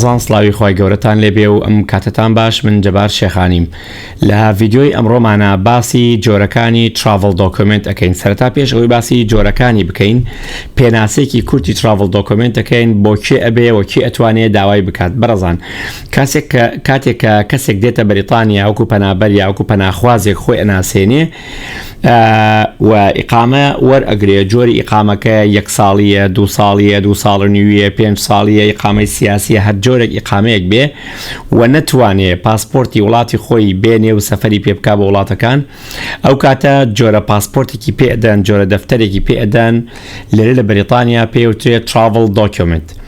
بەڕێزان سڵاوی خوای گەورەتان لێبێ و ئەم کاتەتان باش من جەبار شێخانیم لە ڤیدیۆی ئەمڕۆمانا باسی جۆرەکانی تراڤڵ دۆکۆمێنت ئەکەین سەرەتا پێش ئەوەی باسی جۆرەکانی بکەین پێناسێکی کورتی تراڤڵ دۆکۆمێنت ئەکەین بۆ کێ ئەبێ و کێ ئەتوانێ داوای بکات بەڕێزان کاسێک کە کاتێک کە کەسێک دێتە بەریتانیا وەکو پەنابەر یاوەکو پەناخوازێک خۆی ئەناسێنێ و ئیقامە وەرئەگرێ جۆری ئیقامەکە یەک ساڵیە دو ساڵیە دو ساڵ نیویە پێنج ساڵیە ئیقامەی سیاسیە هەر جۆرە ئیقامەیەک بێ و نەتوانێ پاسپۆرتی وڵاتی خۆی بێنێ و سەفری پێ بک بە وڵاتەکان ئەو کاتە جۆرە پاسپۆرتێکی پێدەن جۆرە دەفتەرێکی پێدەن لێرە لە بەریتانیا پێوترێت تراڤل دۆکیۆمنت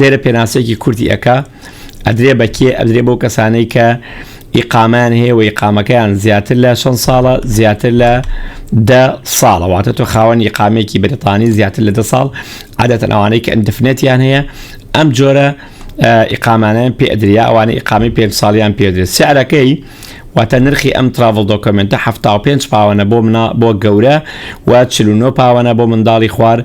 لێرە پێناسەیەکی کورتی ئەکا ئەدرێ بە کێ ئەدرێ بۆ کەسانەی کە ئیقامان هەیە و ئیقامەکەیان زیاتر لە چەند ساڵە زیاتر لە دە ساڵە واتە تۆ خاوەن ئیقامێکی بریتانی زیاتر لە دە ساڵ عادەتەن ئەوانەی کە ئەندفنێتیان هەیە ئەم جۆرە ئیقامانیان پێ ئەدریا ئەوانە ئیقامی پێ ساڵیان پێدرێت سیارەکەی واتە نرخی ئەم تراڤڵ دۆکمنتە 5 پاوەە بۆ منا بۆ گەورە و 49 پاوەە بۆ منداڵی خوار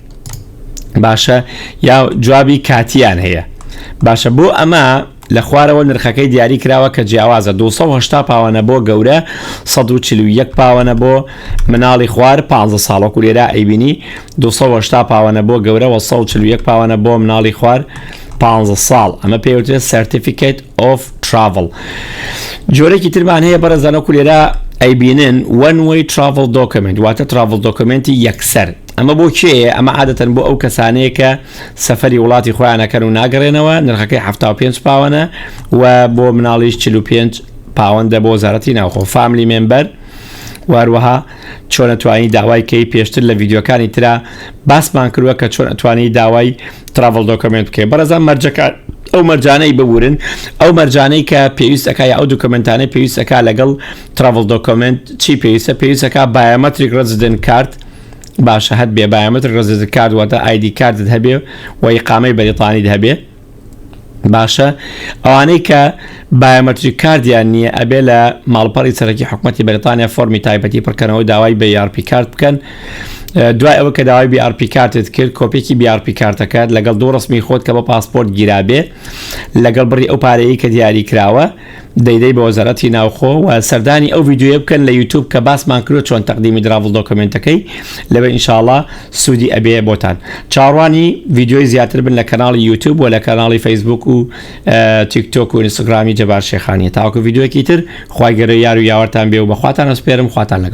باشە یا جوابی کاتیان هەیە باشە بۆ ئەمە لە خوارەوە نرخەکەی دیاری کراوە کە جیاوازە 280 پاوانە بۆ گەورە 1940 پاوانە بۆ مناڵی خوار 15 ساڵۆک و لێرا ئەیبینی 280 پاوانە بۆ گەورە 1940 پاوانە بۆ مناڵی خوار 15 ساڵ ئەمە پێوتێ سرتیفیکیت ئۆف تراڤل جۆرەی ترمان هەیە بەرەزانە کولێرا ئەیبینن وەنوەی تراڤل دۆکمنت واتە تراڤل دۆکمنتی یەکسەر ئەمە بۆ کێیە؟ ئەمە عادەتەن بۆ ئەو کەسانەیە کە سەفەری وڵاتی خۆیان ئەکەن و ناگەڕێنەوە، نرخەکەی حەفتا و پێنج پاوەنە و بۆ مناڵیش چل و پێنج پاوەندە بۆ وەزارەتی ناوخۆ فاملی مێمبەر و هەروەها چۆن ئەتوانی داوای کەی پێشتر لە ڤیدیۆکانی ترا باسمان کردووە کە چۆن ئەتوانی داوای تراڤڵ دۆکمنت بکەی بەڕێزان مەرجەکان ئەو مەرجانەی ببورن ئەو مەرجانەی کە پێویستەکە یا ئەو دوکمنتانەی پێویستەکە لەگەڵ تراڤڵ دۆکمنت چی پێویستە پێویستەکە بایۆمەتریک ڕزدن کارت باشە هەت بێ بایەمەتر ڕزت کارد واتە ئایدی کاردت هەبێ و ئیقامەی بەریتانیت هەبێ باشە ئەوانەی کە بایەمەتری کاردیان نییە ئەبێ لە ماڵپەڕی سەرەکی حکوومەتتی بەریتانیا فۆرمی تایبەتی پڕکەنەوە داوای بە یارپی کارت بکەن دوای ئەوە کە داوای بیارپی کارتت کرد کۆپێکی بیارپی کارتەکەت لەگەڵ دوو ڕستمی خۆت کە بە پاسپۆرت گیرابێ لەگەڵ بڕی ئەو پارەیە کە دیاری کراوە دەی دەی بە وەزارەتی ناوخۆ و سەردانی ئەو ڤیدیۆیە بکەن لە یوتوب کە باسمان کرد چۆن تەقدیمی دراڤڵ دۆکمنتەکەی لەبێ ئینشاڵا سوودی ئەبێ بۆتان چاڕوانی ڤیدیۆی زیاتر بن لە کەناڵی یوتوب و لە کەناڵی فەیسبوک و تیک تۆک و ئینستاگرامی جەبار شێخانی تاوەکو ڤیدیۆکی تر خی گەرە یار و یاوەرتان بێ و بەخواتان ئەسپێرم خواتان لەگەڵ